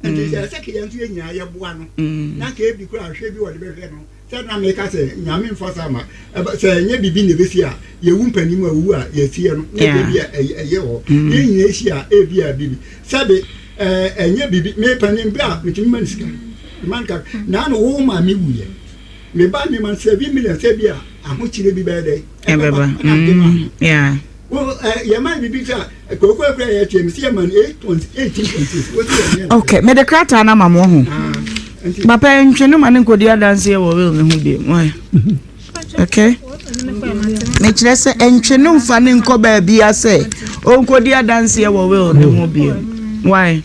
nti mm. sɛ sɛ kɛ yɛn nso yɛ nyinaa yɛboa no mm. na kɛ ebi kora ahwɛ bi wɔde bɛhwɛ no sɛ na meka sɛ nyame mfa saa ma sɛ ɛnyɛ biribi na ɛbɛsi a yɛwu mpanim a ɔwu a yɛsiɛ no na ɛbɛ bi a ɛyɛ hɔ mm. yɛn nyinaa ɛsi a ɛbi a biribi sɛbe ɛnyɛ biribi mepanim bi a metumi ma no sika ma no kaka na ano wo ma me wuyɛ meba me ma sɛ bi million sɛ bi a ahokyerɛ bi bɛyɛ dɛ ɛbɛba yɛma biribi sɛ ok mede krataa no ama mo ho papa ntwe no ma ne nkɔdi adanseɛ wɔ wel no ho bi ok mekyerɛ sɛ ɛntwe no mfa ne nkɔ baabia sɛ ɔnkɔdi adanseɛ wɔ wel no ho bio why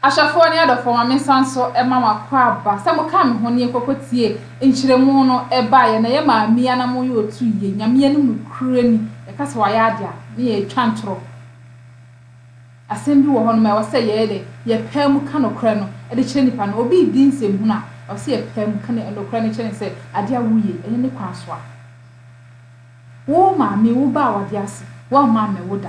Ahwɛfoɔ ne adɔfoɔ, ma mensan nso mma mo akwaaba, sɛ mokaa me ho ne yɛkɔkɔ tie nkyerɛmu no baeɛ, na yɛ maa mia na moyɛ ɔtu yie, Nyame yɛ no nokorɛni, yɛka sɛ wayɛ adeɛ a, ne yɛ twa ntorɔ. Asɛm bi wɔ hɔ nom a ɛwɔ sɛ yɛyɛ dɛn? Yɛ paa mu ka nokorɛ no de kyerɛ nipa no, obi redi nsɛm hunu a, ɛwɔ sɛ yɛ paa mu ka ne nokorɛ no kyerɛ no sɛ adeɛ a wo yɛ yi ɛnyɛ ne kwan so a, wo maame, wo ba a wade ase, wamma ammɛwo da.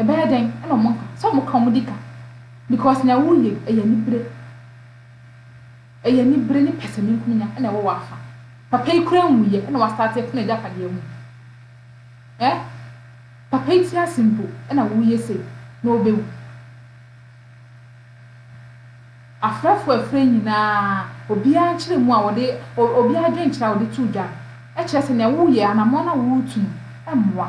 ɛbɛyɛ dɛn na ɔmo nka sɛ ɔmo ka ɔmo de ka because nea woreyɛ yi ɛyɛ anibere ɛyɛ anibere ne pɛsɛmenkominya na ɛwɔ w'afa papa yi koraa nwuiɛ na w'astart ɛtena agyapadeɛ ho eh papa yi te ase mpo na woreyɛ sei na ɔbɛwu afrɛfo afrɛ nyinaa obiara nkyerɛ mu a wɔde obiara adwenkyerɛ a wɔde to dwa no ɛkyerɛ sɛ nea woreyɛ anamɔn na woretu no ɛmmoa.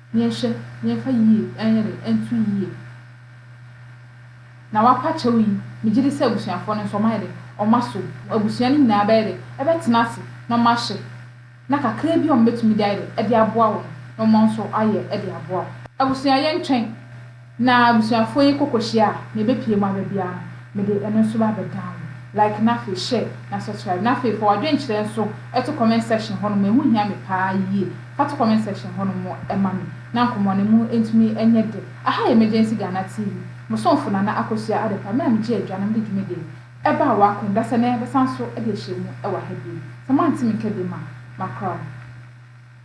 Yɛnhwɛ na yɛmfa yiye nyere nto yiye. Na wapa kyɛw yi, megye di sɛ abusuafo no nso wɔayɛ dɛn? Wɔasow. Abusua no nyinaa bɛyɛ dɛn? Ɛbɛtena ase na wɔahwɛ, na kakraa bi a wɔbetumi de ayɛ dɛn? De aboa wo no, na wɔn nso ayɛ de aboa wo. Abusua, yɛntwɛn. Na abusuafoɔ yi kɔ kɔhyia a, nea ɛbɛpie mu aba biara no, mede ɛno nso ba bɛdan wo. Like na afei share na subscribe. Na afei fa w'adwenkyerɛ nso to comment section hɔ nom, ɛho hia me paa yie. Fa to comment section hɔ nom ma me na nkɔmmɔ no mu ntumi nyɛ dɛ. Aha yɛ Emergency Ghana TV, mo somfo Nana Akosua Adepa, me na megye adwa na mede dwumadie no ɛbaa w'akwan mu. Dasɛ nnɛ yɛbɛsan so de ahyia mu wɔ ha bio. Sɛ moante me nka biom a, makora mo.